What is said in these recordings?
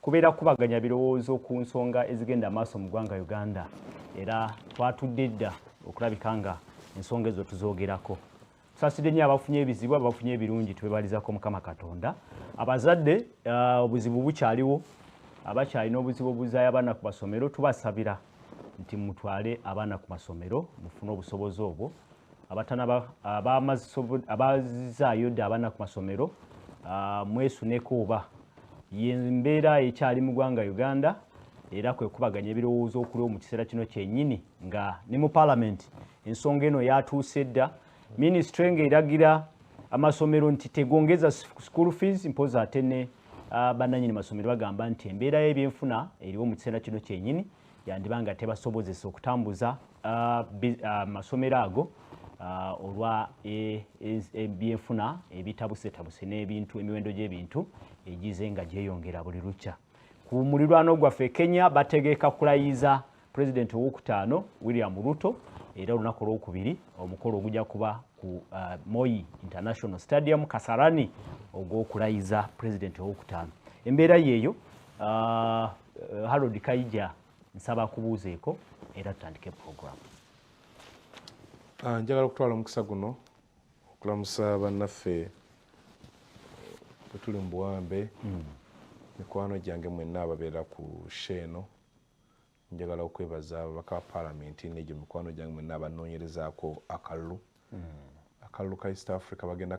kubeera kukubaganya birowoozo ku nsonga ezigenda amaaso mu ggwanga uganda era twatudde dda okulabika nga ensonga ezo tuzogerako tusasidde nnyo abafunye ebizibu abafunye ebirungi twebalizako mukama katonda abazadde uh, obuzibu bukyaliwo abakyalina obuzibu obuzayo abaana ku basomero tubasabira nti mutwale abaana ku masomero mufune obusobozi obwo abaazizaayo dda abaana ku masomero ah, mwesuneko oba yembeera ekyali mu gwanga uganda era kwekubaganya ebirowoozo okuliwo mu kiseera kino kyenyini nga ne mu palamenti ensonga eno yatuuse dda minisitule ng'eragira amasomero nti tegongeza school fees mpozi ate ne ah, bannanyini masomero bagamba nti embeera y'ebyenfuna eriwo mu kiseera kino kyenyini yandiba nga tebasobozesa okutambuza ah, ah, masomero ago olwa e, e, ebyenfuna ebitabusetabuse n'ebintu emiwendo gy'ebintu egize nga gyeyongera buli lukya ku mulirwano gwaffe kenya bategeka kulayiza Pulezidenti owokutaano William Ruto era olunaku olwokubiri omukolo ogujja kuba ku uh, Moi International Stadium Kasarani ogw'okulayiza pulezidenti owokutaano. Embeera yeeyo uh, Harold Kaija nsaba kubuuzeeko era tutandike puroguramu. Uh, njagala okutwala omukisa guno okulamusa bannaffe bwetuli mu buwambe mm. mikwano gyange mwenna ababeera ku sheeno Njagala okwebaza ababaka ba palamenti n'egyo mikwano gyange mwenna abanoonyerezaako akalulu. Hmm. Akalulu ka East Africa bagenda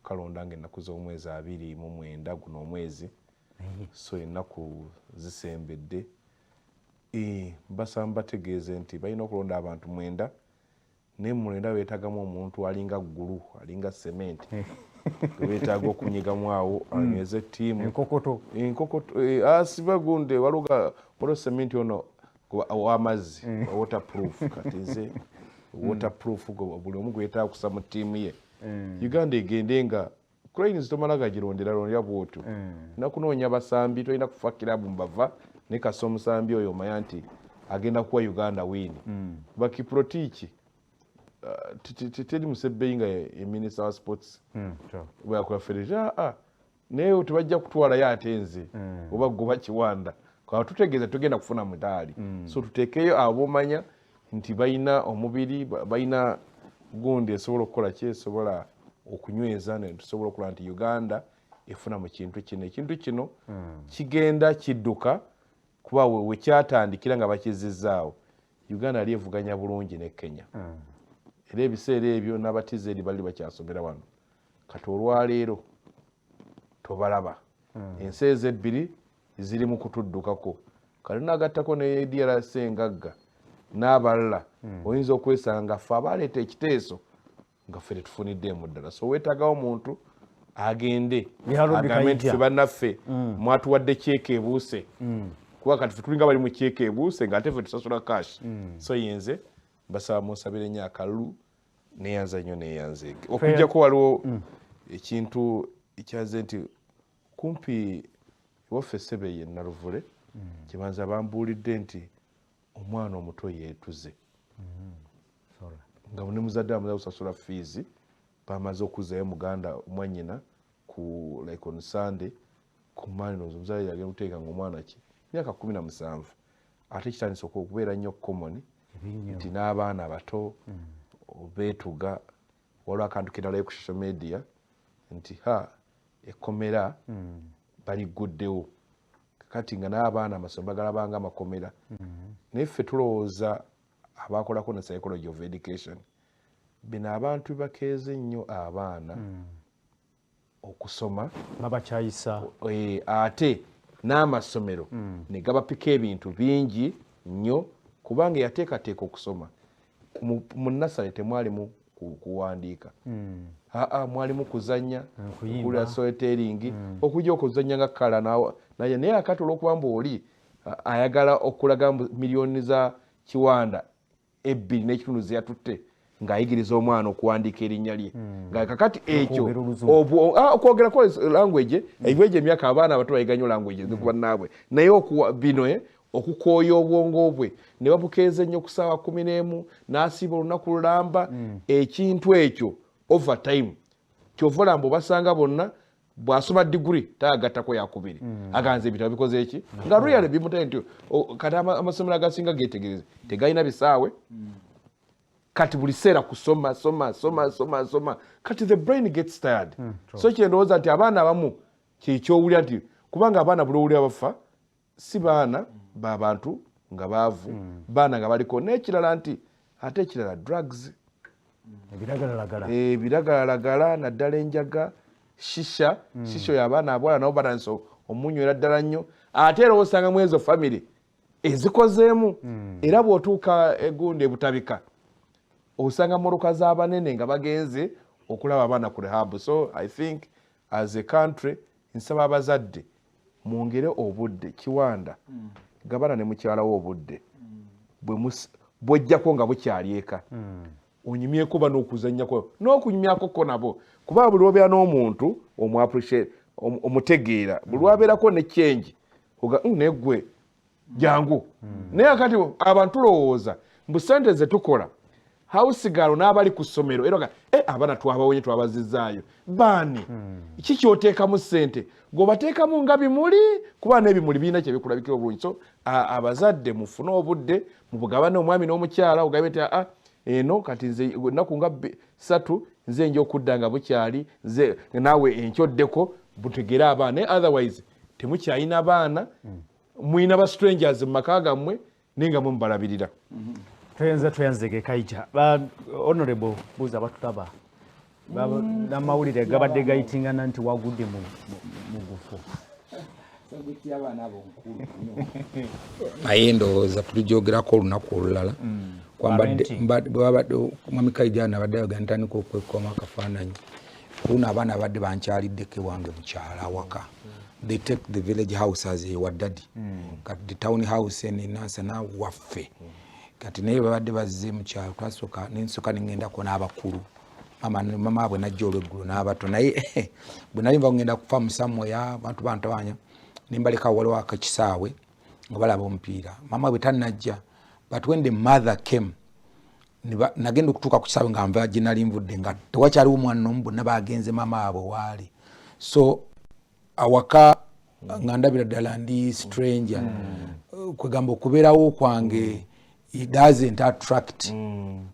kalonda nga ennaku z'omwezi abiri mu mwenda guno omwezi so ennaku zisembedde. Mbasaba mbategeeze nti balina okulonda abantu mwenda Naye muno era wetagamu omuntu alinga gulu alinga cement eh. wetaaga okunyigamu awo hmm. anyweze tiimu enkokoto enkokoto eh, asibe ah, gunde waloga waliwo cement ono wamazzi eh. water proof kati nze water proof buli omu gwetaaga kusa mu tiimu ye uganda egende nga cranes tomala gagironderarondera bwotyo mm. nakunoonya basambi tolina kufa kirabu mbava ne kasa omusambi oyo omanya nti agenda kuwa uganda wiini mm. bakiprotiiki uh, teri musebbeyi nga eminista wa sports mm, bweyakola federation aa ah, ah. naye tebajja kutwalayo ate nze oba goba kiwanda katutegeeza tugenda kufuna mutaali so tutekeyo abomanya ah, nti balina omubiri balina gundi esobola okukola ki esobola okunyweza netusobola okulaba nti uganda efuna mu kintu kino ekintu kino hmm. kigenda kidduka kuba wekyatandikira nga bakizizaawo uganda yali evuganya bulungi ne kenya hmm. era ebiseera ebyo n'abatizeri bali bakyasomera wano kati olwaleero tobalaba hmm. ensi ezo ebbiri ziri mu kutuddukako kati nagattako ne drc engagga n'abalala hmm. oyinza okwesanga nga ffe abaleeta ekiteeso nga ffe tetufuniddeemu ddala so weetagawo omuntu agende agambe nti fe bannaffe hmm. mwatuwadde kyeka ebuuse hmm. kuba kati fe tulinga bali mu kyeka ebuuse nga ate fe tusasula kash so yenze basaba munsabire nnyo akalulu neyanza nnyo neyanzeege okujjako waliwo ekintu ekyaze nti kumpi waffe ssebe ye naluvule mm. kyebanza bambuulidde nti omwana omuto yeetuze mm-hmm. nga ne muzadde amaze kusasula fiizi bamaze okuzayo muganda mwanyina ku like on sunday ku mannos omuzadde yagenda kuteeka nga omwana ki myaka kumi na musanvu ate kitandisa okubeera nnyo komoni nti n'abaana abato mm. beetuga waliwo akantu keralayo ku social media nti ha ekkomera baligguddewo kakati nga n'abaana amasomero bagalabanga amakomera mm-hmm. naye ffe tulowooza abaakolako ne psychology of education bino abantu bakeeze nnyo abaana mm. okusoma babakyayisa eh, ate n'amasomero mm. ne gabapika ebintu bingi nnyo kubanga eyateekateeka okusoma mu nasale temwalimu kuwandiika hmm. aa mwalimu kuzanya kula soeteringi hmm. okuja okuzanya nga kala naye naye akati olwokuba mbu oli ayagala okulaga mbu miliyoni za kiwanda ebbiri n'ekitundu zeyatutte ng'ayigiriza omwana okuwandiika erinnya lye hmm. nga kakati ekyo okwogera kwa language ebyo egyo emyaka abaana abato bayiganyo language nikubannaabwe naye bino eh, okukooya obwongo bwe ne babukeeza ennyo ku ssaawa kumi n'emu n'asiiba olunaku lulamba mm. ekintu ekyo over time kyova olamba obasanga bonna bwasoma diguri tagattako yakubiri mm. aganza ebitabo bikoze eki nga real bimutaye nti kati amasomero agasinga getegereze tegalina bisaawe mm. kati buli seera kusoma soma soma soma soma kati the brain gets tired so kyendowooza nti abaana abamu kyekyowulira nti kubanga abaana buli owulira bafa si baana ba bantu nga baavu mm. baana nga baliko n'ekirala nti ate ekirala drugs ebiragalalagala eh, naddala enjaga shisha mm. shisha oyo abaana abwala nabo batandisa omunywera ddala nnyo ate era osanga mu ezo famiry ezikozeemu mm. era bw'otuuka egundi ebutabika osanga mmotoka z'abanene nga bagenze okulaba abaana ku rehabu so i think as a country nsaba abazadde mwongere obudde kiwanda mm. gabana ne mukyala wo obudde mm. bwojjako nga bukyali eka mm. onyumyeko bana okuzanyako n'okunyumyako ko nabo kuba buli obeera n'omuntu omutegeera buli wabeerako ne kyengi oga mm, negwe jangu naye akati abantu tulowooza mbu sente zetukola hausigalo n'abali ku ssomero era eh, abana twabawonye twabazizaayo baani hmm. ki kyoteekamu ssente gweobateekamu nga bimuli kuba n'ebimuli birina kyebikulabikira obulungi so abazadde mufune obudde mubugabane omwami n'omukyala ogabe ti aa eno kati nze ennaku nga satu nze nja okudda nga bukyali nze naawe enkyoddeko butegere abaana naye otherwise temukyalina baana hmm. mulina ba strangers mu maka gammwe naye nga mwe mubalabirira mhm. toyanza toyanzege kaija ba honorable buuza batulaba mm. namawulire gabadde gayitingana nti wagudde mu gufo naye ndowooza tulijogerako olunaku olulala mm. kwambadde mwami kaija nabadde ayogera ntandika okwekoma akafaananyi kuno abaana abadde bankyalidde ke wange mukyala awaka they take the village house as a wadadi mm. kati the town house en nansana waffe kati naye babadde bazze mukyalo twasoka nensoka nengendako n'abakulu mama abwe najja olweggulo n'abato naye bwe nali nva ngenda kufa musamoya bantu bantabanya nembaleka waliwo akakisaawe nga balaba omupiira mama bwe tanajja but when the mother came nagenda okutuuka ku kisaawe nga nva gyenali nvudde nga tewakyaliwo omwana nomu bonna bagenze maama abwe waali so awaka nga ndabira ddala ndi stranger mm. kwegamba okubeerawo kwange it doesn't attract mm.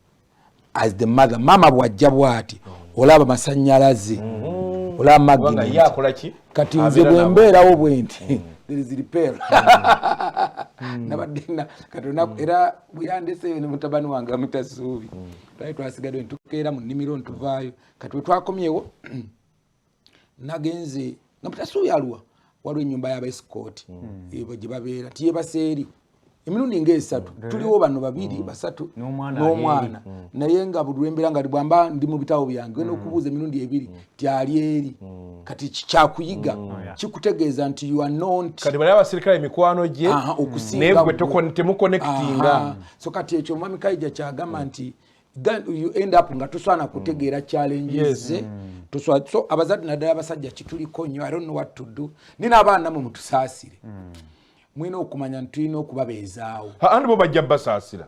as the mother maama bwajja bwati mm. olaba masanyalaze mm-hmm. olaba magnet kati nze bwembeerawo bwenti mm. there is repair mm. nabadde kati mm. era bweyandeseeyo ne mutabani wange amuta suubi mm. twali twasigadde netukeera mu nnimiro ntuvaayo kati wetwakomyewo nagenze nga mutasuubi aluwa waliwo enyumba yabaesikooti mm. eh, gyebabeera tiyebaseeri emirundi nga esatu mm. tuliwo bano babiri mm. basatu n'omwana mm. naye nga buli lwembeera nga bwamba ndi mu bitawo byange genda okubuuza emirundi ebiri tyali eri mm. kati kikyakuyiga mm. oh, kikutegeeza nti you are not kati bali abasirikale mikwano gye okusinga temuconnectinga so kati ekyo mwami kaija kyagamba mm. nti you end up nga toswana kutegeera mm. challenges yes. mm. toswa, so abazadde naddala abasajja kituliko nnyo i don't know what to do ni n'abaana namwe mutusaasire mm. mwina okumanya nti tulina okubabeezaawo andi bo bajja basaasira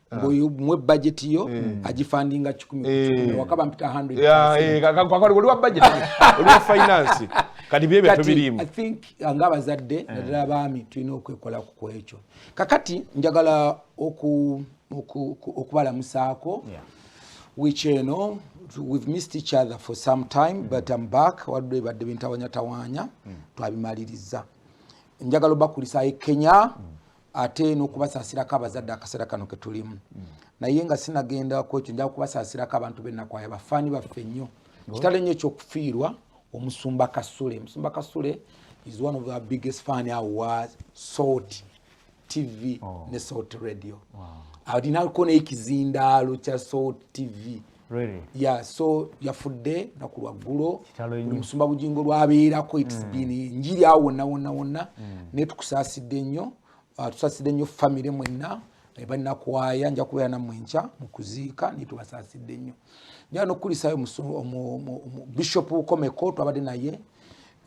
Ah. mbuyu mwe budget yo mm. ajifundinga kikumi eh. wakaba mpita 100 ya eh kaka kwa kwali wa budget oli wa finance kati bye bye tubirimu i think angaba zadde eh. nadala bami tuino kwekola ku kwecho kakati njagala oku oku okubala musako yeah. which you know we've missed each other for some time mm. but i'm back wadde badde bintawanya tawanya mm. twabimaliriza njagala bakulisa e kenya mm. ate n'okubasaasirako abazadde akaseera kano ke tulimu mm. naye nga sinagenda ku ekyo njaga kubasaasirako abantu bennakwaya bafaani baffe nnyo kitalo nnyo ekyokufiirwa omusumba kasule omusumba kasule is one of our biggest fan awa salt tv oh. ne salt radio alinako naye kizindaalo kya salt tv Really? Yeah, so yafudde naku lwaggulo musumba bugingo lwabeerako its mm. been enjiri awo wonna wonna wonna mm. naye tukusaasidde nnyo uh, tusaasidde nnyo famire mwenna eh, balinakwaya nja kubeera nammwe nkya mu kuziika naye tubasaasidde nnyo njala nokukulisaayo bishop ukomeko twabadde naye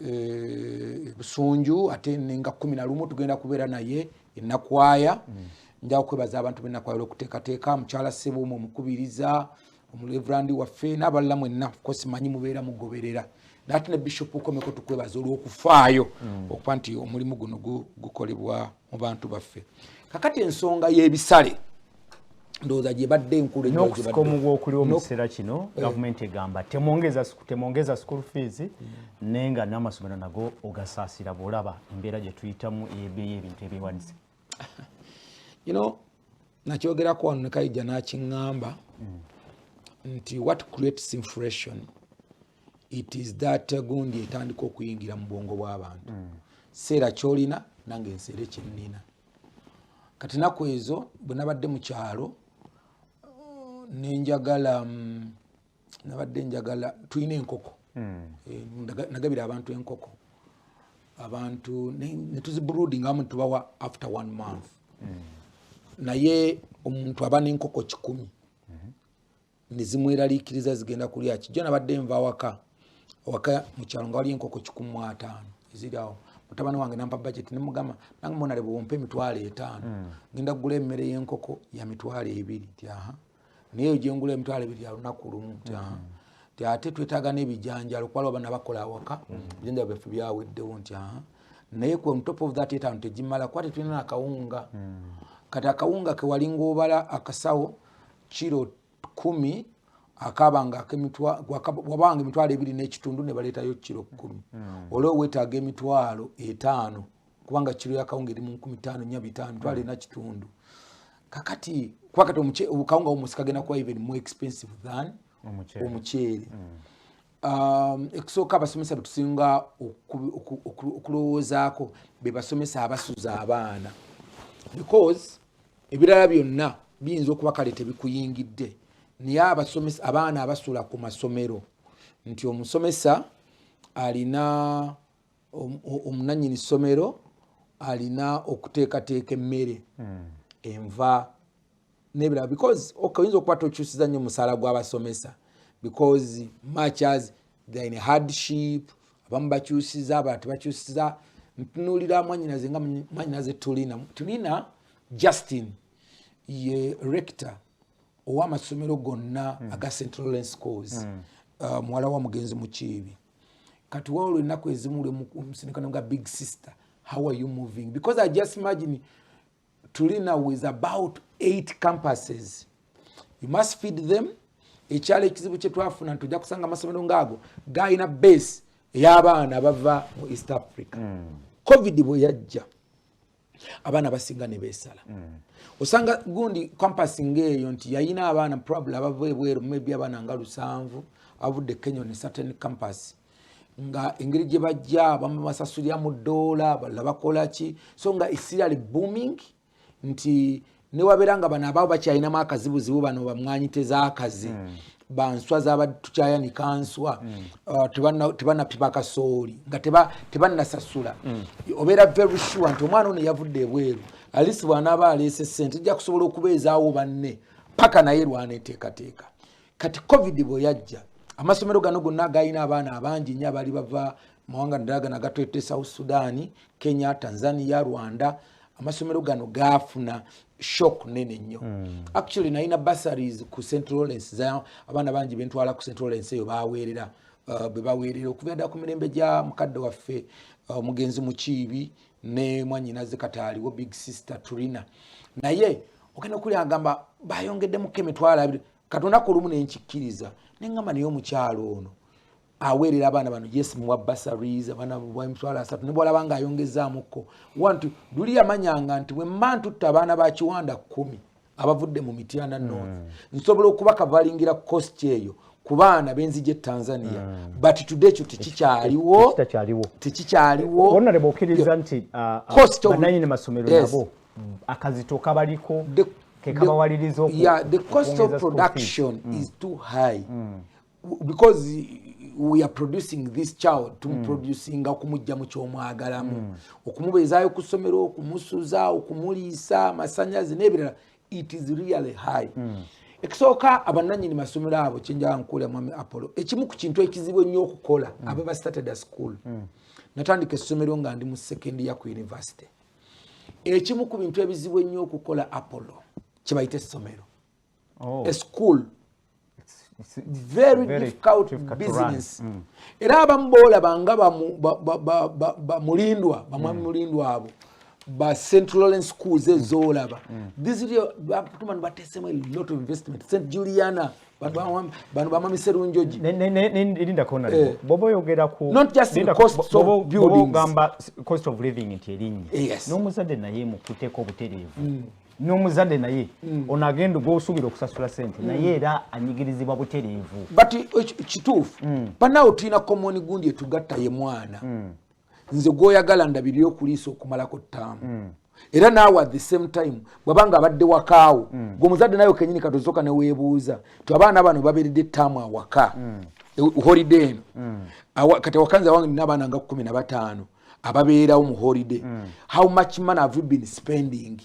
eh, busunju ate nenga kumi na lumu tugenda kubeera naye enakwaya mm. nja okwebaza abantu benakwayala okuteekateeka mukyala sebo mu omukubiriza omulevrandi waffe n'abalala mwenna kosi manyi mubeera mugoberera nate ne bishop ukomeko tukwebaza olw'okufaayo mm. okuba nti omulimu guno gukolebwa mu bantu baffe kakati ensonga y'ebisale ndowooza gyebadde enkulu n'okusika omugu okuliwo mu kiseera kino eh. gavumenti egamba temwongeza school fees mm. naye nga n'amasomero nago ogasaasira bw'olaba embeera gye tuyitamu eyebeeyo ebintu ebyewanise you know nakyogerako wano nekaija nakiŋamba mm. nti what creates inflation it is that gundi etandika okuyingira mu bwongo bw'abantu mm. seera kyolina nange nseere kyennina kati naku ezo bwe nabadde mu kyalo nenjagala mm, nabadde njagala tulina enkoko hmm. eh, nagabira abantu enkoko abantu netuzibruding amu tubawa after one month hmm. naye omuntu aba nenkoko kikumi hmm. nezimweraliikiriza zigenda kulya kijjo nabadde nva awaka awaka mukyalo nga waliyo enkoko kikumi mu ataano eziri awo mutabani wange nampa budget nemugamba nange monale bwewompa emitwalo etaano mm. ngenda kugula emmere y'enkoko ya mitwalo ebiri ti aha naye ojengula emitwalo ebiri yalunaku lumu nti ate twetaaga n'ebijanjalo kuba lwabana bakola awaka ebijanjalo byaffe byaweddewo nti naye ku top of that etaano tegimala kuba tetulina nakawunga kati akawunga kewalinga obala akasawo kiro kumi akabanga wabanga emitwalo ebiri n'ekitundu ne baleetayo kiro kkumi hmm. olwo wetaaga emitwalo etaano kubanga kiro ya kawunga eri mu nkumi taano nya bitaano twala ena kitundu kakati kuba kati kawunga womusi kagenda kuba even more expensive than omuceere mm. um, ekusooka abasomesa betusinga okulowoozaako bebasomesa abasuza abaana because ebirala byonna biyinza okuba kale tebikuyingidde naye abasomesa abaana abasula ku masomero nti omusomesa alina omunanyini ssomero alina okuteekateeka emmere hmm. enva nebirala because oyinza okuba tokyusiza nnyo omusaala gw'abasomesa because matchers they're in hardship abamu bakyusiza abalala tebakyusiza ntunuulira mwanyinaze nga mwanyinaze tulina tulina justin ye rector owamasomero gonna hmm. aga central lane schools hmm. uh, muwala wa mugenzi mukiibi kati wawula ennaku ezimu lwemusinikana nga big sister how are you moving because i just imagine tulina with about eight campuses you must feed them ekyalo ekizibu kyetwafuna nti ojja kusanga amasomero ngaago galina base ey'abaana bava mu east africa mm. covid bwe yajja abaana basinga ne beesala mm. osanga gundi kampasi ng'eyo nti yayina abaana probably abava ebweru maybe abaana nga lusanvu abudde kenya ne certain campus nga engeri gye bajja abamu basasulira mu ddoola balala bakola ki so nga esira li booming nti newabeera nga bano abaawo bakyalinamu akazibuzibu bano bamwanyi tezakazi mm. banswa zabadde tukyayanika nswa mm. uh, tebanapipa kasooli nga tebanasasula mm. obeera very sure nti omwana ono yavudde ebweru alisi bwanaaba aleese sente ejja kusobola okubeezaawo banne paka naye lwaneteekateeka kati covid bwe yajja amasomero gano gonna galina abaana abangi nyo abaali bava mawanga ndala gana gatwete south sudan kenya tanzania rwanda amasomero gano gaafuna shock nene nnyo hmm. actually nalina bursaries ku central lawrence za abaana bangi bentwala ku central lawrence eyo baweerera uh, bwe baweerera okuva dda ku mirembe gya mukadde waffe uh, omugenzi mukiibi ne mwanyinaze kataaliwo big sister turina naye ogenda okuli agamba bayongeddemu kemitwala abiri katonda ku lumu nenkikkiriza nengamba naye omukyalo ono aweerera abaana bano yes muwa basaries abaana emitwalo asatu ne bwalaba nga ayongezzaamukko wanti luli yamanyanga nti wemma ntutte abaana ba kiwanda kkumi abavudde mu mityana north mm. nsobola okuba kavalingira kosti eyo ku baana benzija etanzania mm. but today kyo tekikyaliwo tekikyaliwo bananyini masomero nabo akazito kabaliko kekabawaliriza the cost of production mm. is too high mm. because we are producing this child tumuproducinga mm. okumujja mu kyomwagalamu mm. okumubeezaayo ku ssomero okumusuza okumuliisa amasanyazi n'ebirala it is really high mm. ekisooka abananyini masomero abo kyenjaa nkuula mwami apollo ekimu ku kintu ekizibu ennyo okukola mm. aba ba started a school mm. natandika essomero nga ndi mu second year ku university ekimu ku bintu ebizibu ennyo okukola apollo kyebayita essomero oh. a school very difficult business mm. era abamu boolaba nga bamulindwa bamwami mm. mulindwa abo ba central lawrence schools ezoolaba mm. thisbatuma nibateesemu alot of investment st juliana bano bamami serunjoji eh. boba oyogera kugamba cost of living nti erinnya eh, n'omuzadde naye mukuteko obutereevu n'omuzadde naye mm. ono agenda gwosuubira okusasula sente mm. naye era anyigirizibwa butereevu but eh, kituufu mm. banaawo tulina komoni gundi etugatta ye mwana nze gwoyagala ndabiri okuliisa okumalako ttaamu era naawe at the same time bwaba nga abadde wakaawo gwe omuzadde naye kenyini katozoka neweebuuza ti abaana bano baberedde ttaamu awaka e, holiday eno kati awakanzi awange nina abaana nga kumi na bataano ababeerawo mu holiday mm. how much money have you been spending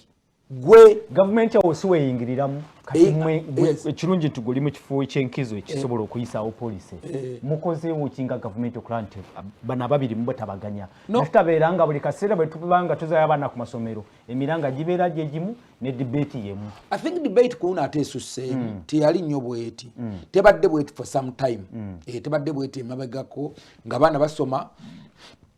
gwe gavumenti awo si weyingiriramu eh, eh, ekirungi nti guli mu kifo ekyenkizo ekisobola eh. okuyisaawo polisi mukozeewo ki nga gavumenti okulaba nti bano ababiri mubo tabaganya naffe tabeera nga buli kaseera bwetubanga tuzayo abaana ku masomero emiranga gibeera gyegimu ne debate yemu i think debate kuno ate esuseemu mm. teyali nnyo bweti mm. tebadde bweti for some time mm. e, tebadde bweti emabegako nga baana basoma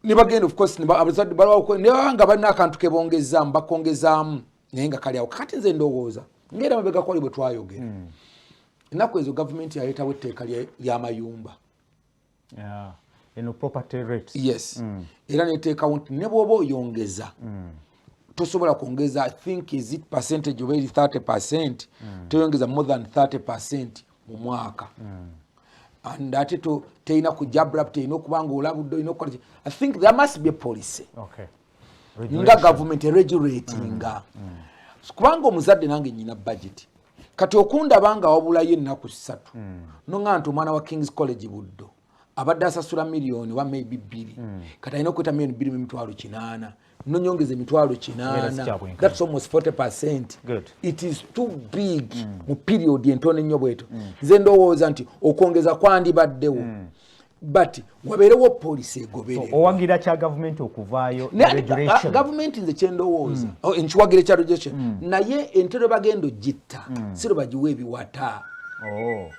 nebagenda ofcourse abazadde balawako nebaba nga balina akantu kebongezaamu bakongezaamu naye nga kali awo kakati nze ndowooza ngaera mabegako ali bwe twayogera mm. enaku ezo gavumenti yaleetawo etteeka lyamayumba yeah. eno property rate yes mm. era neteekawo nti ne bwoba oyongeza mm. tosobola kwongeza i think is it percentage oba eri 30 percent mm. toyongeza more than 30 percent mu mwaka mm. and ate to teyina kujabulap teyina okuba nga olabudde olina okukola i think there must be a policy okay. nga government eregulatinga mm. mm. kubanga omuzadde nange nyina budget kati okundaba nga wabulayo ennaku ssatu mm. noŋa nti omwana wa kings college buddo abadde asasula miliyoni oba maybe bbiri mm. kati alina okweta miliyoni bbiri mumitwalo kinaana nonyongeza emitwalo kinaanathats almost 40 percent it is too big mm. mu period entono ennyo bweto mm. nze ndowooza nti okwongeza kwandibaddewo mm. but wabeerewo policy egoberera owagira kya gavumenti okuvaayo gavumenti nze kyendowooza mm. oh, nkiwagira ekya regulation mm. naye entero bagenda ogitta mm. siro bagiwa ebiwata oh.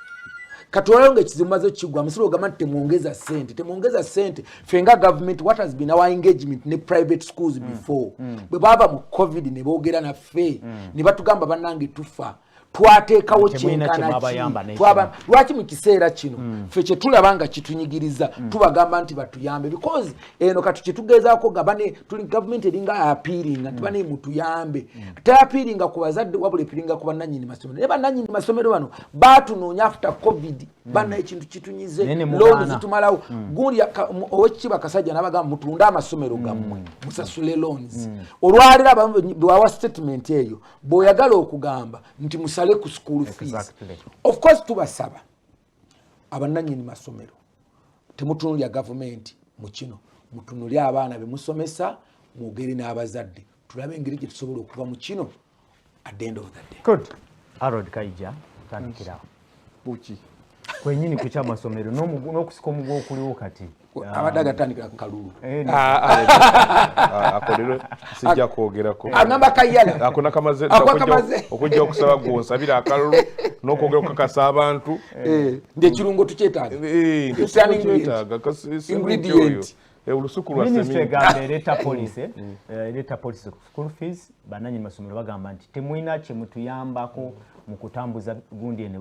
katwalayo nga ekizibu maze okigwa musiro ogamba nti temwongeza sente temwongeza sente fe nga gavumenti what has been our engagement ne private schools before bwe baava mu covid ne boogera naffe ne batugamba bannange tufa twateekawo kyenkanakilwaki mu kiseera kino hmm. fe kyetulaba nga kitunyigiriza hmm. tubagamba nti batuyambe because eno kati kyetugezaako nga bane tuli gavumenti eringa apiiringa nti hmm. bane mutuyambe teapiiringa ku bazadde wabula epiringa ku bananyini masomero naye bananyini masomero bano batunoonya after covid bana ekintu kitunyize looni zitumalawo gundi owekitiibwa akasajja nabagamba mutunde amasomero gammwe musasule loons olwaliro bwawa statement eyo bwoyagala okugamba nti musale ku school fees of course tubasaba abananyini masomero temutunulya gavumenti mu kino mutunulye abaana bemusomesa mwogere n'abazadde tulabe engeri gye tusobola okuva mu kino at the end of the day good arod kaija tandikirawo kuki kwenyini ku kyamasomero n'okusika omugu okuliwo kati abadde agatandikira ku kalulu eh, ah, ah, ah, akolero sijja kwogerako agamba kayala akona kamaze okujja okusaba gwe onsabira akalulu n'okwogera okukakasa abantu eh. Eh, nti ekirungo tukyetaaga ingredient olusuku lwa seminti ereeta polisi mm. ereeta polisi school fees bananyi masomero bagamba nti temulina kyemutuyambako mm. mu kutambuza gundi ene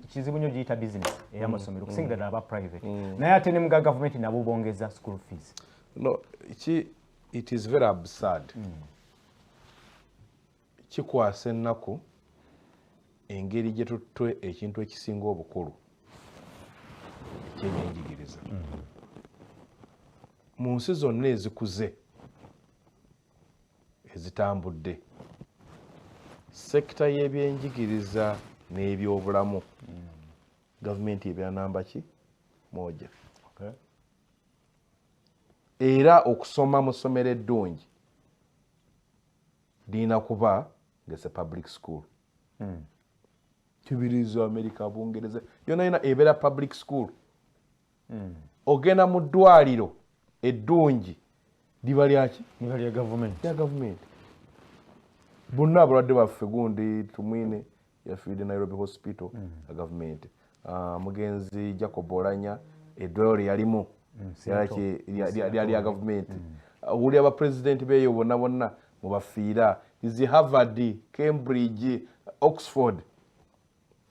kizibu nyo giyita business eya mm. masomero mm. kusingira ddala aba private mm. naye ate ne muga gavumenti nabo bongeza school fees no ki it is very absurd mm. kikwasa ennaku engeri gye tuttwe ekintu ekisinga obukulu ekyenyenjigiriza mm. mu nsi zonna ezikuze ezitambudde sekita y'ebyenjigiriza n'ebyobulamu gavumenti ebyanamba ki moja era okusoma mu ssomero eddungi lirina kuba ngese public school hmm. kibirizo amerika bungereza yona yona ebeera public school hmm. ogenda mu ddwaliro eddungi liba lyaki liba lya gavumenti lya gavumenti bonna abalwadde baffe gundi tumwine yafiide nairobi hospital hmm. ya gavumenti ah, mugenzi jacob olanya eddwaliro lyeyalimu lyali lya gavumenti owulira bapulezidenti beeyo bonna bonna mubafiira izi harvard cambridge oxford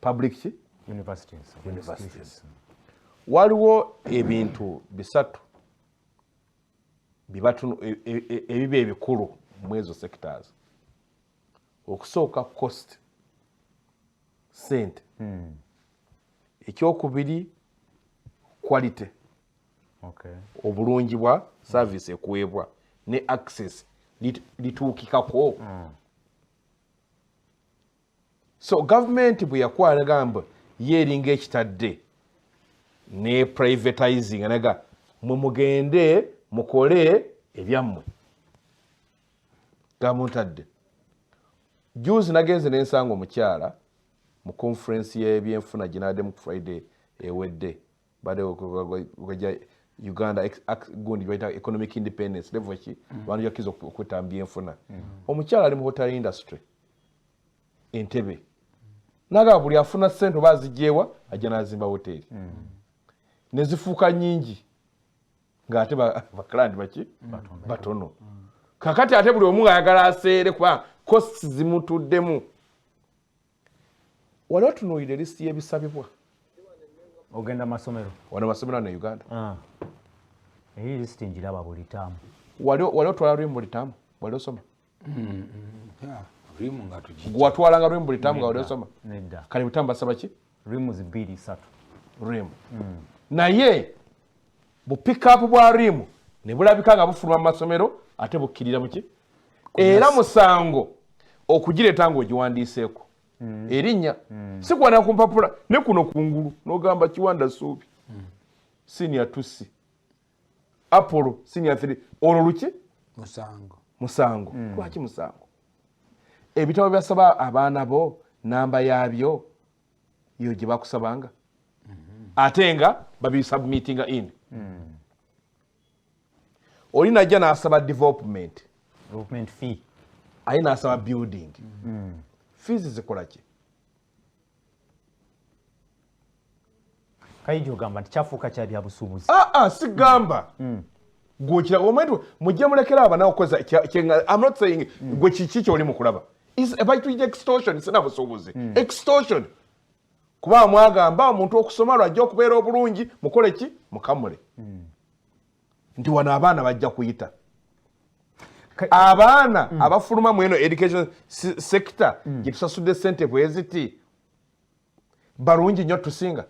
public ki universities, universities. waliwo ebintu bisatu bibatunu e, e, e, ebiba ebikulu mwezo sectors okusooka cost sente hmm. ekyokubiri quality okay. obulungi bwa service ekuweebwa ne access lituukikako hmm. so gavumenti bwe yakuwa nagamba ye eringa ekitadde ne privatizing naga mwe mugende mukole ebyammwe gamuntadde juzi nagenze nensanga omukyala mu conference yebyenfuna gyenademu friday ewedde bade okweja uganda gundi baita economic independence level ki mm. bantu yakiza okwetambya enfuna mm. omukyala ali mu hotel industry entebe naga buli afuna sente oba azijewa ajja nazimba hoteli mm. nezifuuka nyingi ngaate baklandi baki batono kakati ate buli omu ayagala aseere kuba costs zimutuddemu Wali otunuulidde list y'ebisabibwa? Ogenda masomero. Wano masomero ne Uganda. Ah. Eyi list njiraba buli taamu. Wali wali otwala rwimu buli taamu? Wali osoma? Mm. Yeah. Rwimu nga tuji. Gwa twala nga rwimu buli taamu nga wali osoma? Nedda. Kale butamu basaba ki? Rwimu zibiri satu. Rwimu. Mm. Naye bu pickup bwa rimu ne bulabika nga bufuluma mu masomero ate bukkirira muki era musango okugireeta ng'ogiwandiiseeko mm. erinnya mm. sikwana ku mpapula ne kuno ku ngulu n'ogamba kiwanda suubi mm. sinior tusi apollo sinior three olwo luki musango musango lwaki musango ebitabo byasaba abaana bo namba yaabyo yo gye bakusabanga mm-hmm. ate nga babisubmitinga in mm. oli najja nasaba development aye nasaba building mm. fees zikolaki kayinja ogamba nti kyafuuka kya byabusuubuzi aa ah, ah, sigamba mm. gwekira omwenti mujja mulekera abana okukoza am not saying mm. gwe kiki kyoli mukulaba baituyita extortion sina busuubuzi mm. extortion kuba mwagamba omuntu okusoma lwajja okubeera obulungi mukole ki mukamule nti wano abaana bajja kuyita abaana abafuluma mweno education sector gyetusasudde sente bweziti balungi nnyo tusinga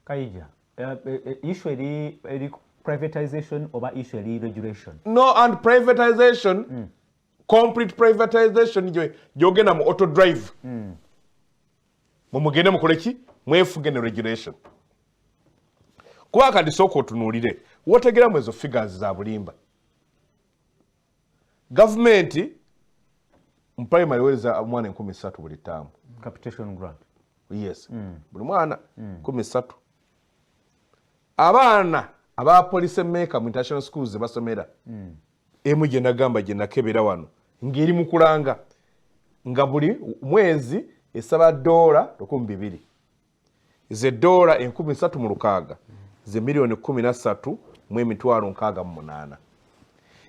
kayija eh, eh, eh, issue eri eri privatization oba issue eri regulation no and privatization mm. complete privatization gyogenda mu auto drive mm. mumugende mukole ki mwefuge ne regulation kuba kati sooka otunuulire wotegeramu ezo figures za bulimba gavumenti mu primary ewereza omwana enkumi satu buli taamu capitation grant yes mm. buli mwana mm. kumi satu abaana aba police maker mu international schools zebasomera mm. emu gyenagamba gyenakebera wano ngeri mukulanga nga buli mwezi esaba doola lukumi bibiri ze doola enkumi satu mu lukaaga ze miliyoni kumi na satu mu emitwalo nkaaga mu munaana.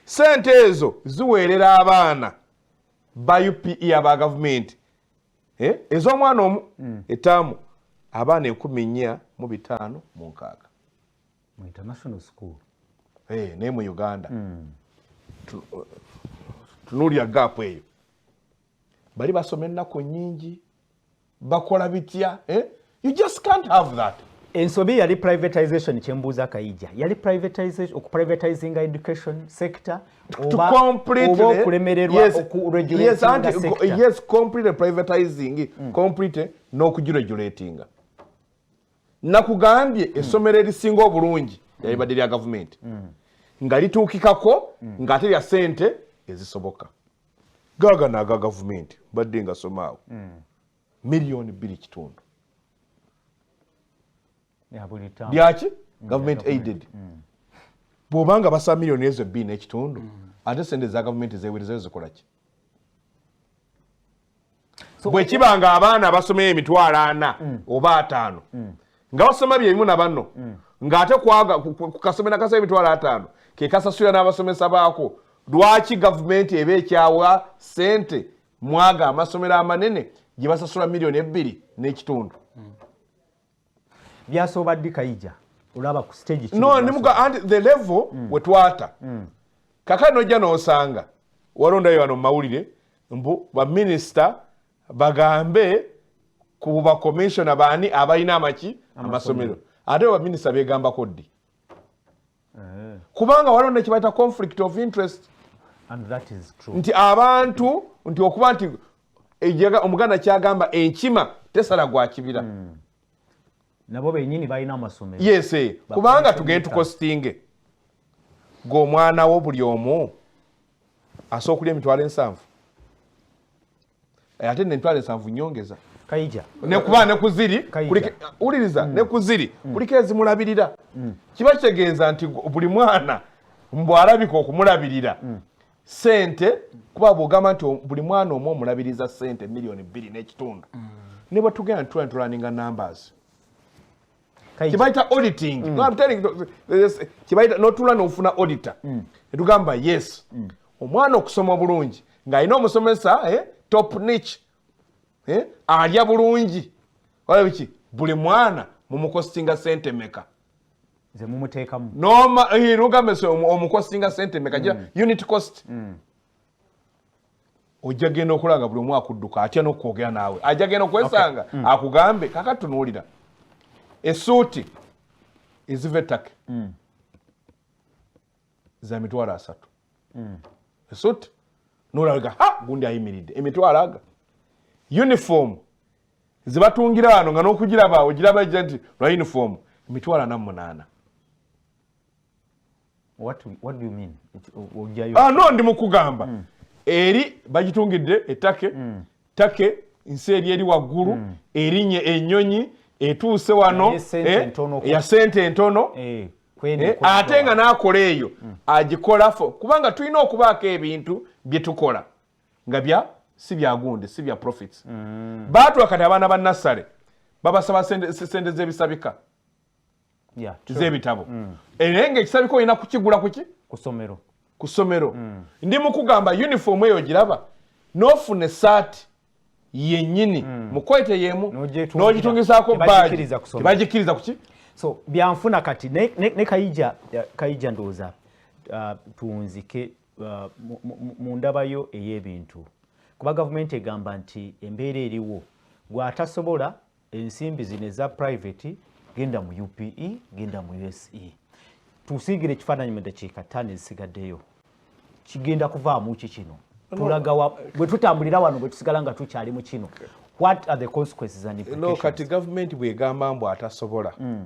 Sente ezo ziweerera abaana ba UPE aba gavumenti eh, ez'omwana omu hmm. etaamu abaana enkumi nnya mu bitaano mu nkaaga mu international school eh, naye mu Uganda hmm. tunuulira gaapu eyo bali basoma ennaku nnyingi bakola bitya eh? you just can't have that ensobi yali privatization kyembuuza kayija yali privatization okuprivatizing education sector okulemererwaokuregulatingyes completely privatizing mm. completely n'okugiregulatinga nakugambye mm. essomero erisinga obulungi mm. yalibadde lya gavumenti mm. nga lituukikako mm. ng'ate lya sente ezisoboka gagana aga gavumenti mbadde nga somaawo mm. miliyoni bbiri kitundu byaki mm, gavumenti aided mm. bwoba nga basa miliyoni ezo bbiri n'ekitundu ate sente eza gavumenti zewerezayo zikolaki bwe kiba nga abaana abasomeyo emitwalo ana mm. oba ataano mm. nga basoma byebimu na banno mm. ng'ate kukasomera kasa emitwalo ataano ke kasasula n'abasomesa baako lwaki gavumenti eba ekyawa sente mwaga amasomero amanene gye basasula miliyoni ebbiri n'ekitundu byasooba ddi kayija olaba ku stage no nimuga and the level mm. wetwata mm. kaka nojja nosanga walondayo wano mawulire mbu baminisita bagambe ku bakomishona baani abalina amaki amasomero ate baminisita begambako ddi eh. kubanga waliwo nekibaita conflict of interest nti abantu nti okuba nti omuganda kyagamba enkima tesala gwa kibira hmm. nabo benyini balina amasomero yes eh. kubanga tugende tukositinge gweomwana wo buli omu asobola okulya emitwalo ensanvu eh, ate nemitwalo ensanvu nyongeza kaija nekuba nekuziri wuliriza mm. nekuziri mm. kuliko ezimulabirira mm. kiba kitegeeza nti buli mwana mbwalabika okumulabirira sente kuba bwogamba nti buli mwana omu omulabiriza sente miliyoni bbiri n'ekitundu ne bwetugenda nitula nitulaninga numbers kibayita auditing kibayita notula nofuna auditor netugamba yes omwana okusoma obulungi ng'alina omusomesa eh, top nich eh, alya bulungi olabiki buli mwana mumukosinga sente meka zemumuteekamu noma eh, lugambe omukosinga sente meka mm. unit cost mm. ojja genda okulaba nga buli omu akudduka atya n'okwogera naawe ajja genda okwesanga hmm. akugambe kaka tunuulira esuuti eziva ettake hmm. za mitwalo asatu hmm. esuuti nolaga ha gundi ayimiridde emitwalo aga uniform zebatungira wano nga n'okugiraba ogiraba ejja nti lwa uniform emitwalo ana munaana what, what do you mean? Ah, no ndi mukugamba mm. eri bagitungidde etake mm. take nsi eri eri waggulu mm. erinye enyonyi etuuse wano ya sente entono eh, eh, eh, ate nga nakola eyo mm. agikolafo kubanga tulina okubaako ebintu byetukola nga bya si byagundi si bya profits mm. batula kati abaana ba nassale babasaba sente z'ebisabika z'ebitabo mm. era nga ekisabika olina kukigula kuki kusomero ku ssomero mm. ndi mukugamba uniform eyo giraba nofuna esaati yenyini mm. mukwete yemu nogitungisaako baagi tebagikkiriza kuki so byanfuna kati ne, ne, ne kayija kayija ndowooza uh, tunzike uh, mu ndabayo ey'ebintu kuba gavumenti egamba nti embeera eriwo gwatasobola ensimbi zino eza private genda mu upe genda mu use tusiigire ekifaananyi mu dakiika ttaano ezisigaddeyo kigenda kuvaamu ki kino tulagawa bwe tutambulira wano bwe tusigala nga tukyali mu kino what are the consequences and implications no kati gavumenti bw'egamba mbu atasobola mm.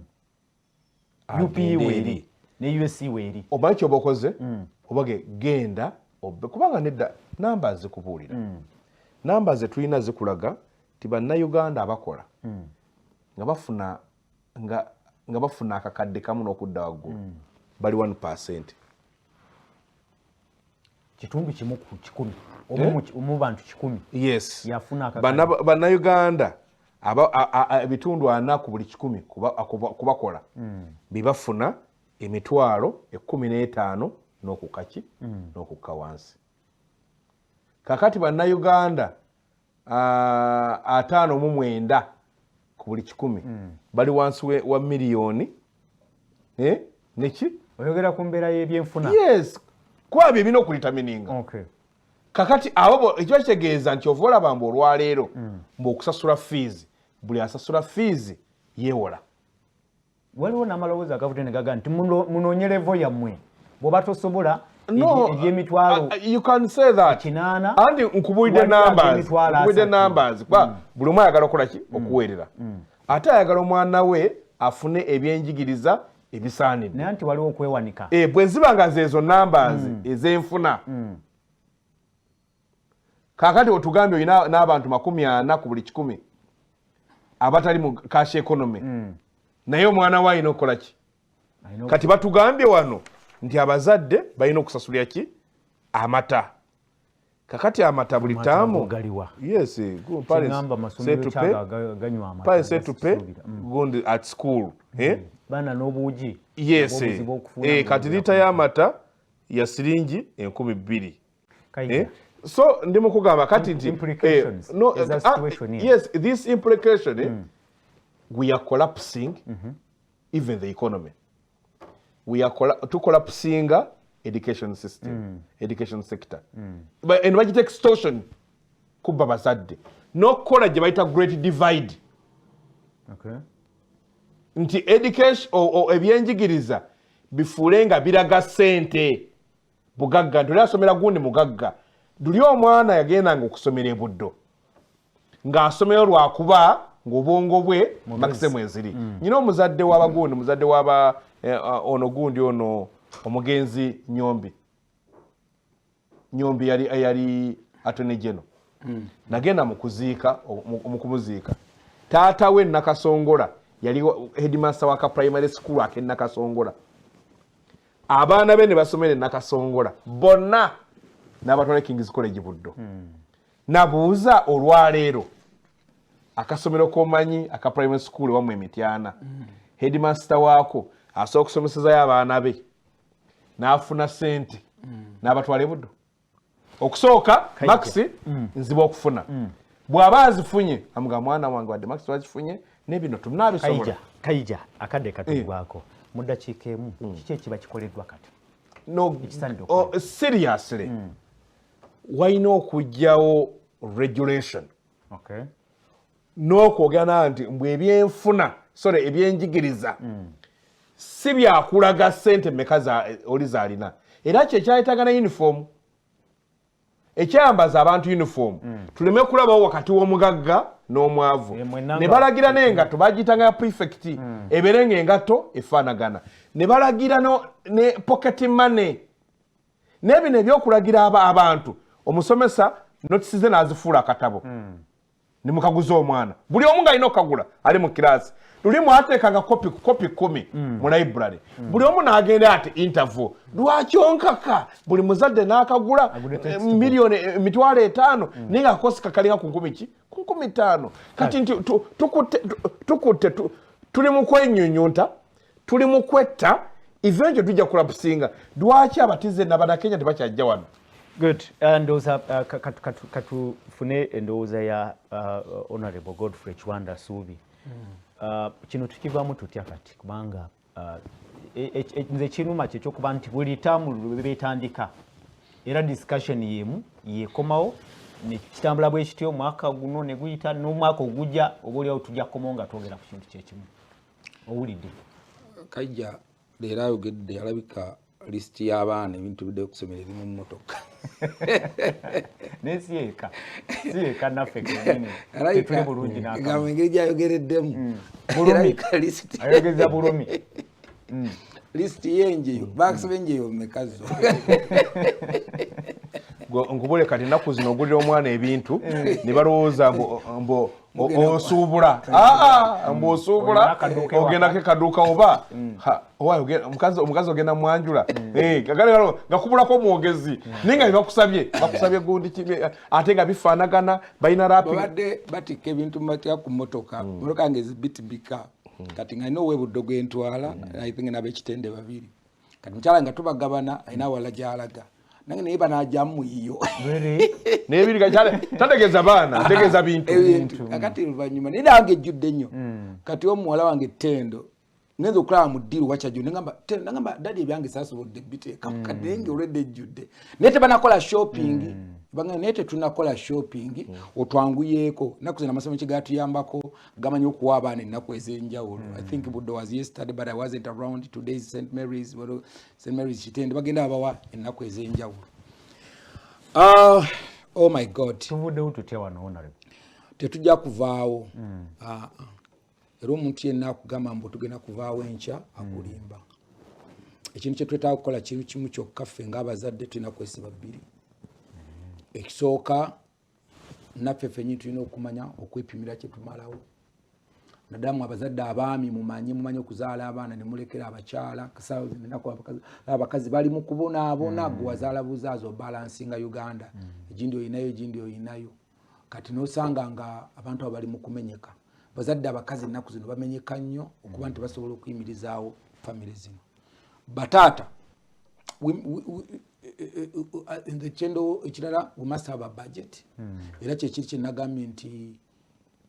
upe weeri ne us weeri omanyi kyoba okoze mm. obage genda obe kubanga nedda namba zikubuulira mm. namba zetulina zikulaga nti bannayuganda abakola mm. nga bafuna nga bafuna akakadde kamu n'okudda waggulu bali 1 percent kitundu kimu ku kikumi omu eh? bantu kikumi yes yafuna bannayuganda ebitundu ana ku buli kikumi kubakola hmm. bebafuna emitwalo ekumi n'etaano n'okukaki hmm. n'okukka wansi kakati bannayuganda uh, ataano mu mwenda ku buli kikumi mm. bali wansi wa miliyoni eh? neki oyogera ku mbeera y'ebyenfuna yes kwabyo ebina okulitamininga okay. kakati abo ekiba kitegeeza nti ova olaba mbu olwaleero mm. mbu okusasula fiizi buli asasula fiizi yewola waliwo namalowooza agavudde negaga nti munoonye levo yammwe bwoba tosobola ebyemitwalo kinaana anti nkubulidde nambankubulidde nambazi kuba mm. buli omu ayagala okukola ki mm. okuweerera mm. ate ayagala omwana we afune ebyenjigiriza ebisaanidde naye nti waliwo okwewanika eh, bwe ziba nga zeezo nambazi ezenfuna kakati otugambye olina n'abantu makumi ana ku buli kikumi abatali mu cash economy mm. naye omwana we alina okukola ki kati batugambye wano nti abazadde balina okusasulira ki amata kakati amata buli taamu yes eh, good parents say to pay parents say to pay mm. gundi at school mm. eh bana nobuji yes eh, eh kati lita ya mata ya siringi enkumi bbiri eh? so ndi mukugamba kati nti eh, no, uh, uh, yes this implication eh, mm. we are collapsing mm -hmm. even the economy we are colla to collapsinga education system mm. education sector mm. but and bagita extortion kubba bazadde n'okukola gye bayita great divide okay. nti education ebyenjigiriza bifuule nga biraga sente bugagga nti oli asomera gundi mugagga luli omwana yagendanga okusomera ebuddo ng'asomero lwakuba ng'obwongo bwe makise mweziri mm. nyina omuzadde w'abagundi muzadde waba eh, eh, ono gundi ono omugenzi nyombi nyombi yali yali atone geno mm. nagenda mukuziika mukumuziika taata we nakasongola yali headmaster waka primary school akenakasongola abaana be ne basomera enakasongola bonna n'abatwala kings college buddo hmm. nabuuza olwaleero akasomero komanyi aka primary school wamu emityana hmm. headmaster waako asobola okusomesezayo abaana be n'afuna sente hmm. n'abatwala ebuddo okusooka makisi mm. nzibu okufuna mm. bw'aba azifunye amuga mwana wange wadde makisi wazifunye nebino tunabisobola kaija akadde katugwako eh. mu ddakiika emu mm. kiki ekiba kikoleddwa kati no oh, seriously mm. walina okugyawo regulation okay. n'okwogera naa nti mbu ebyenfuna sore ebyenjigiriza mm. si byakulaga sente meka oli zalina era kyekyayetaga na uniform ekyayambaza abantu uniform mm. tuleme kulabawo wakati w'omugagga n'omwavu eh, ne balagira n'engatto bagiyitanga ya prefect mm. ebeere nga engatto efaanagana ne balagira ne pocket money nebino ebyokulagira abantu omusomesa notisize n'azifuula akatabo mm. ndi mukaguza omwana buli omu nga alina okukagula ali mu kiraasi luli mwateekanga kopi kopi kumi mm. mu library mm. buli omu n'agenda ati interview lwaki onkaka buli muzadde n'akagula eh, miliyoni eh, emitwalo etaano mm. naye nga kakosi kakalinga ku nkumi ki ku nkumi ttaano kati nti tukutte tuli mu kwenyunyunta tuli mu kwetta eventually tujja kulapusinga lwaki abatize nabanakenya tebakyajja wano good uh, ndowooza uh, katufune endowooza ya uh, honorable godfrey kiwanda suubi hmm. kino tukivamu tutya kati kubanga e, e, e, nze ekinuma kyekyokuba nti buli taamu lwebetandika era discussion yemu yekomawo nekitambula bwekityo omwaka guno neguyita nomwaka ogujja oba oliawo tujja kukomawo nga twogera ku kintu kyekimu owulidde kajja leero ayogedde alabika lisiti y'abaana ebintu bidde okusomera eri mu mmotoka naye si eka si eka naffe kenyinituli bulungi nagamba engeri gyayogereddemu mm. bulumiyayogeza bulumi mm. lisiti yenjeyo mm. bakusaba enjeyo mekazo nkubule kati ennaku zino ogulira omwana ebintu ne balowooza mbu osuubula aa mbu osuubula ogendako ekaduuka oba omukazi ogenda mwanjula nga kubulako omwogezi naye nga bebakusabye bakusabye gundi ate nga bifaanagana balina rapbadde batikka ebintu mumatya ku motoka motoka nga ezibitibika kati nga nina owebuddo gwentwala i think nabekitende babiri kati mukyala nga tubagabana alina awala gyalaga nange naye banajamu yiyo tategeza baana ategeza bintu kakati oluvanyuma naye nange ejjudde nnyo hmm. kati omuwala wange tendo ngenza okulaba mu ddiiru wakyajjo nagamba dadi ebyange sasobodde biteeka hmm. kati naye nga olwedde ejjudde naye tebanakola shopping hmm. banga naye tetunakola shopping otwanguyeeko naku zina amasomo kigatuyambako gamanyi okuwa abaana ennaku ez'enjawulo i think hmm. budde was yesterday but i wasn't around today's st marys st marys kitende bagenda abawa ennaku ez'enjawulo uh, oh my god tuvuddewo tutya wano honore tetujja kuvaawo hmm. ah, ah. era omuntu yenna akugamba mbu tugenda kuvaawo enkya hmm. akulimba ekintu kyetwetaaga kukola kintu kimu kyokka ffe ngaabazadde tulina kwesiba bbiri ekisooka naffe fenyi tulina okumanya okwepimira kyetumalawo nadamu abazadde abaami mumanye mumanye okuzaala abaana nemulekera abakyala abakazi bali mukubonaabona mm. gwewazaala buzaazi obalansinga uganda mm. egindi oyinayo egindi oyinayo kati nosanga nga abantu abo bali mukumenyeka bazadde abakazi ennaku zino bamenyeka nnyo okuba nti basobola okuyimirizaawo famiry zino bataata we, we, we, kyendo ekirala we must have a budget hmm. era kyekiri kyenagambye nti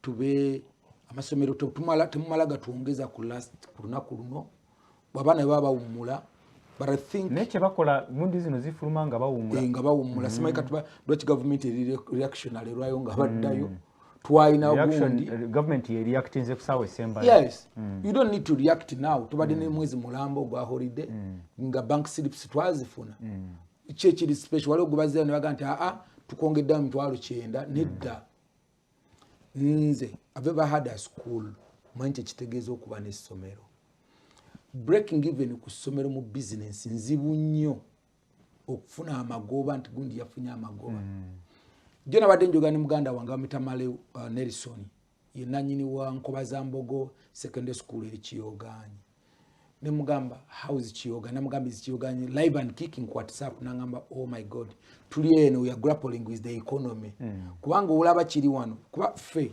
tube amasomero temumala gatwongeza ku last ku lunaku luno abaana bwe baba bawummula naye kyebakola mundi zino zifuluma nga bawummula eh, nga bawummula hmm. simanyi kati lwaki gavumenti eri reactionary lwayo nga baddayo hmm. twalina gundi eh, government ye reactinze kusawa esemba yes mm. you don't need to react now tubadde mm. ne mwezi mulamba ogwa holiday mm. nga bank slips twazifuna mm. ki ekiri special waliwo gubazira ne baga nti aa tukwongedde mu mitwalo kyenda mm. nedda nze i've ever had a school manyi kyekitegeeza okuba n'essomero breaking even ku ssomero mu bizinensi nzibu nnyo okufuna amagoba nti gundi yafunye amagoba mm. jo nabadde njogera ne muganda wange bamita male uh, nelson ye nanyini wa nkoba za mbogo secondary school eri kiyoganyi nemugamba house kiyoga namugamba is kiyoganyi live and kicking ku whatsapp nangamba oh my god tuli eno we are grappling with the economy mm. kubanga olaba kiri wano kuba ffe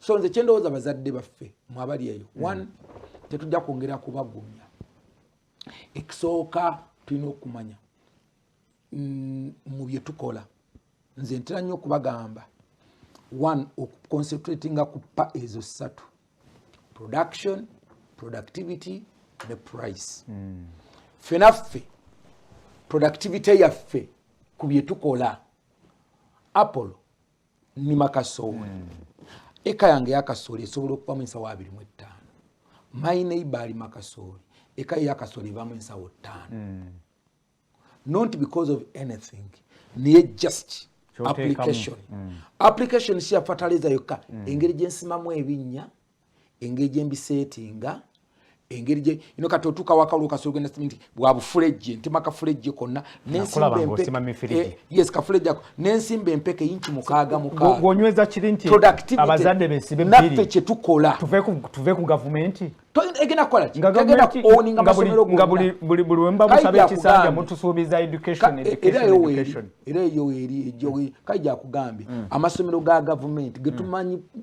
so nze kyendowooza bazadde baffe mwabali eyo mm. one tetujja kwongera kubagumya ekisooka tulina okumanya mm, mu bye tukola nze ntera nnyo okubagamba one okuconcentratinga ku pa ezo ssatu production productivity ne price mm. fenaffe productivity yaffe ku bye tukola apollo nima kasooli mm. eka yange yakasooli esobola okubamu ensawo abiri mu ettaano my neighbor alima kasooli eka yakasooli ebamu ensawo ttaano mm. not because of anything naye just application mm. application siya fertilizer yokka mm. engeri gyensimamu ebinnya engeri gye mbiseetinga engeri gye ino kati otuuka wakalu kasolo genda nti bwa bufulejje ntema kafulejje konna eh, yes kafulejje ako n'ensimba empeke yinki mukaaga mukaagonyweza kiri nti abazadde besibe naffe kye tukola tuve ku gavumenti egenda kukola ki egenda kuoninga masomero nga buli buli wemba musaba ekisanja mutusuubiza education e- era eyo eri era eyo eri ejogi kaija kugambye mm. amasomero ga gavumenti getumanyi mm.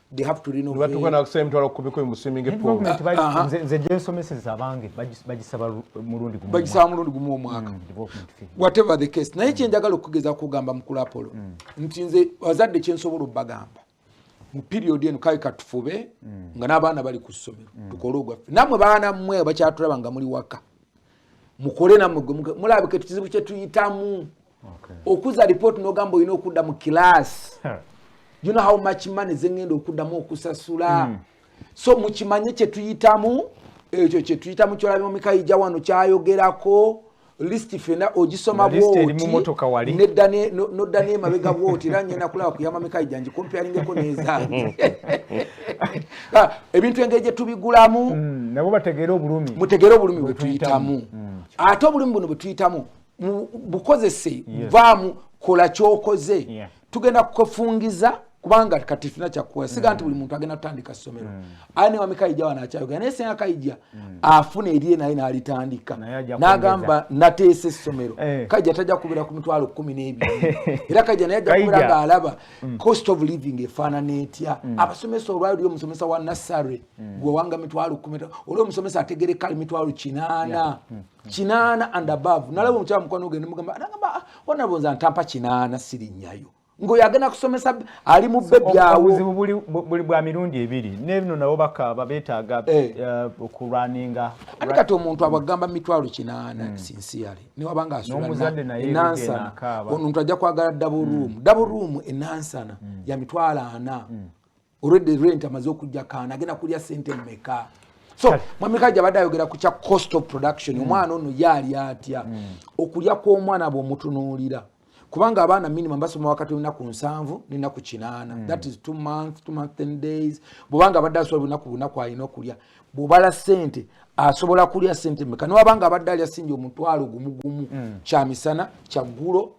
they have to renovate batuka na kusema mtu alokubiko imusiminge po government bali ah, ah. nze nze je somese za bange bajisaba murundi gumu bajisaba murundi gumu mwaka mm, development fee whatever the case na hichi njagala okugeza kugamba mkulu apolo mm. nti nze wazadde chensobolo bagamba mu period eno kai katufube mm. nga n'abaana bali ku ssomero mm. tukole ogwaffe namwe baana mmwe bakyatulaba nga muli waka mukole namwe gwe mulabika ekizibu kye tuyitamu okuza report nogamba olina okudda mu class you know how much money zengenda okuddamu okusasula mm. so mukimanye kyetuyitamu ekyo kyetuyitamu kyolabye omikayija wano kyayogerako list fena ogisoma bwotnodda nemabega bwoti era ngenda kulaba kuyamba mikayija ngikompealingeko nezange ah, ebintu engeri gyetubigulamu mm, mutegere obulumi bwetuyitamu mm. ate obulumi buno bwetuyitamu bukozese vaamu kola kyokoze yeah. tugenda kukwefungiza kubanga kati tulina kyakukola siga nti buli muntu agenda kutandika somero mm. aye newami kaija wano akyayogera naye senga kaija mm. afuna eriye naye nalitandika nagamba nateesa essomero eh. kaija tajja kubeera ku mitwalo kumi n'ebiri era kaija naye ajja kubeera ngaalaba mm. cost of living efaanana etya abasomesa olwali oli omusomesa wa nassary gwewanga mitwalo kumi oli omusomesa ategereka ali mitwalo kinaana kinaana and above nalaba omukyala mukwano gwe nemugamba nagamba wanabo nza ntampa kinaana sirinnyayo ngoyo agenda kusomesa ali mu bbe byawobuzibu buli bwa mirundi ebiri nebino nabo bakaaba betaaga eh. eh, okulwaninga ani kati omuntu abagamba mitwalo kinaana hmm. sinsiyale newabanga asuenansana ono omuntu ajja kwagala daburuumu hmm. daburuumu enansana hmm. ya mitwalo ana already rent amaze okujja kaana agenda kulya sente mmeka so mwami kaja abadde ayogera ku kya cost of production mm. omwana ono yaali atya mm. okulya kw'omwana bw'omutunuulira kubanga abaana minimum basoma wakati lunaku nsanvu nenaku kinaana mm. that is two month two month ten days bwobanga abadde asobola lunaku bunaku alina okulya bwobala sente asobola kulya sente meka newabanga abadde alya sinja omutwalo gumugumu mm. kyamisana kyaggulo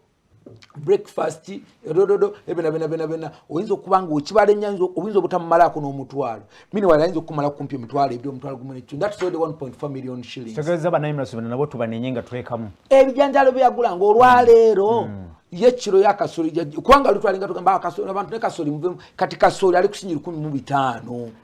breakfast edododo ebina bina bina bina oyinza okuba nga okibala enyanza oyinza obutamumalaako n'omutwalo mini wali ayinza okukumala kumpi emitwalo ebiri omutwalo gumu nekyo that sold 1.4 million shillings tegeeza banayimulaso bino nabo tubanenye nga tulekamu ebijanjalo byeyagula nga olwaleero mm. mm. ye kiro ya kasoli kubanga lutwalinga tugamba ah, abantu ne kasoli muvemu kati kasoli ali kusinyi lukumi mu bitaano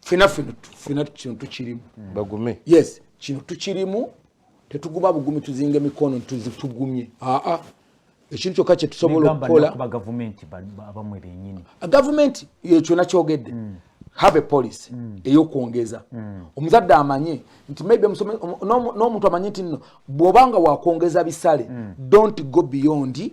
fena fena kino tukirimu bagume yes kino tukirimu tetuguma bugumi tuzinga emikono tuzitugumye aa ekintu kyokka kyetusobola okukola gavumenti ekyo nakyogedde mm. have a policy mm. eyokwongeza mm. omuzadde amanye nti maybe n'omuntu amanye nti nno bw'obanga wakwongeza bisale don't go beyond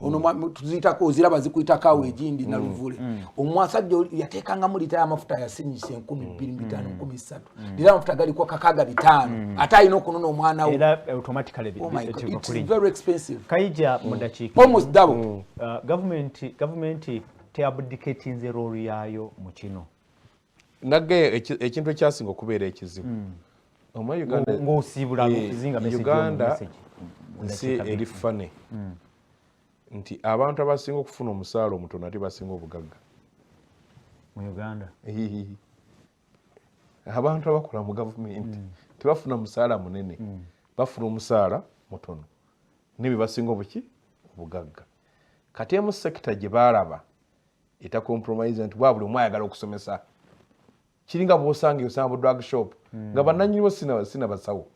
ono mm. tuzitako oziraba zikuyitako awo mm. egindi mm. naluvule omusajja yateekangamu lita yamafuta yasinyisa enkumi bbiri mubitaano nkumi ssatu lira amafuta galiko kakaga bitaano ate alina okunona omwana weomsdabogavumenti teabdiketinze roolu yaayo mu kino nage ekintu ekyasinga okubeera ekizibu ngaosiibula uganda nsi eri fane hmm. nti abantu abasinga okufuna omusaala omutono ate basinga obugagga mu uganda abantu abakola mu gavumenti hmm. tebafuna musaala munene hmm. bafuna omusaala mutono nebye basinga obuki obugagga kati emu sekita gye baalaba eta compromise nti bwabuli omu ayagala okusomesa kiringa bwosanga osanga bu drug shop hmm. nga bananyiniwo sina sina basawo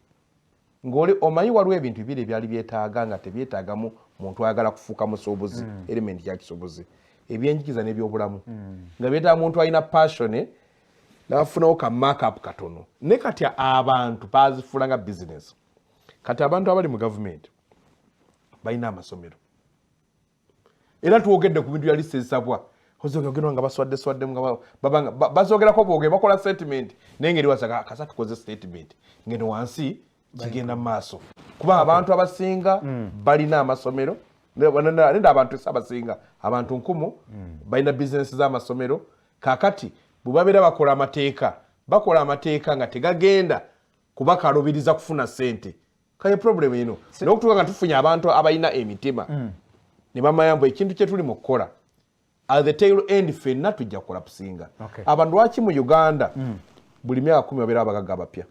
ngoli omanyi waliwo ebintu bibiri ebyali byetaaga nga tebyetaagamu muntu ayagala kufuuka musuubuzi hmm. element ya kisuubuzi ebyenjigiza n'ebyobulamu hmm. nga byetaaga muntu alina passione nafunawo ka markup katono ne kati abantu bazifuula nga business kati abantu abali mu gavumenti balina amasomero era twogedde ku bintu ya list ezisabwa ozogerwa nga baswadde swaddemu nga babanga bazogerako bwogere bakola statement naye ngeri wasaga kasa tukoze statement ngeno wansi kigenda mu maaso kuba abantu abasinga hmm. balina amasomero neda abantu esi abasinga abantu nkumu hmm. balina bizinesi z'amasomero kakati bwe babeera bakola amateeka bakola amateeka nga tegagenda kubakalubiriza kufuna sente kaye problem eno nokutuka nga tufunye abantu abalina emitima mm. ne bamanya mbu ekintu kyetuli mu kukola at the tail end fenna tujja kulapusinga okay. abantu lwaki mu uganda mm. buli myaka kumi babeera abagaga abapya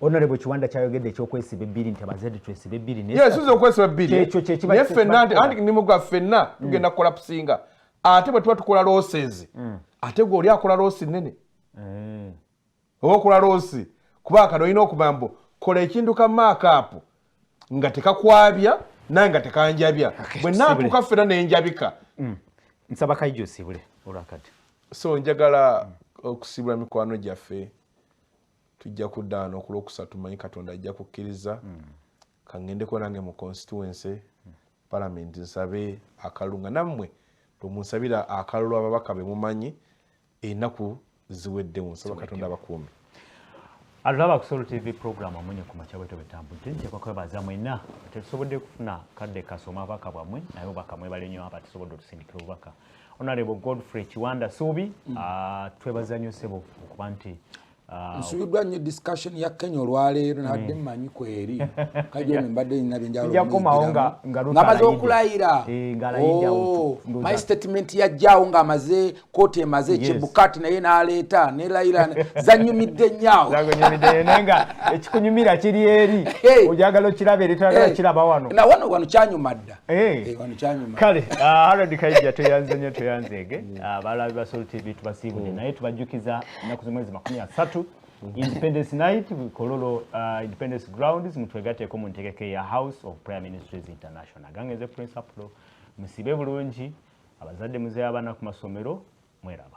honorable kiwanda kyayogedde ekyokwesiba ebbiri nti abazadde twesiba ebbiri yesuza okwesiba ebbiriekyokyekinaye fenna nti anti nimuga fenna mm. tugenda kulapusinga ate bwe tuba tukola losezi mm. ate gwe oli akola losi nene eh. oba okola loosi kuba kano olina okuba mbu kola ekintu ka maakaapu nga tekakwabya naye nga tekanjabya bwe naatuuka ffena nenjabika mm. nsaba kaija osibule olwakati so njagala okusibula mikwano gyaffe tujja kuddaano okulwokusatu manyi katonda ajja kukkiriza mm. kangendeko nange mu constituency mm. palamenti nsabe akalunga nammwe bwemunsabira akalulu ababaka bemumanyi enaku ziweddewo nsaba katonda abakuumi atulaba ku solo tv program amunye ku makya bwetyo bwetambudde ntekwa kwebaza mwena tetusobodde kufuna kadde kasoma abaka bwamwe naye obaka mwebale nyo aba tusobodde otusindikira obubaka onalebo godfrey kiwanda suubi mm. ah, twebaza nyo sebo okuba nti Ah, nsubiddwa nnyo discussion ya kenya olwaleero nabadde hmm. mmanyi kweri kajoni mbadde nina byenjawulongamaze okulayira eh, oh, my statement yajjawo ng'amaze kooti emaze ekyebukati naye n'aleeta nelayira zanyumidde nyawo ekikunyumira kiri eri ojagala okiraba eri toyagala kiraba wano na wano wano kyanyuma dda eh. Eh, wano kyanyuma kale ah, harod kaija tweyanze nnyo tweyanzeege hmm. ah, balabi basol tv tubasiibule hmm. naye tubajjukiza ennaku zimwezi makumi asatu independence night kololo uh, independence grounds mutwegateeko mu ntegeka eya house of prayer ministries international gange nze prince apollo musibe bulungi abazadde muzeyo abaana ku masomero mweraba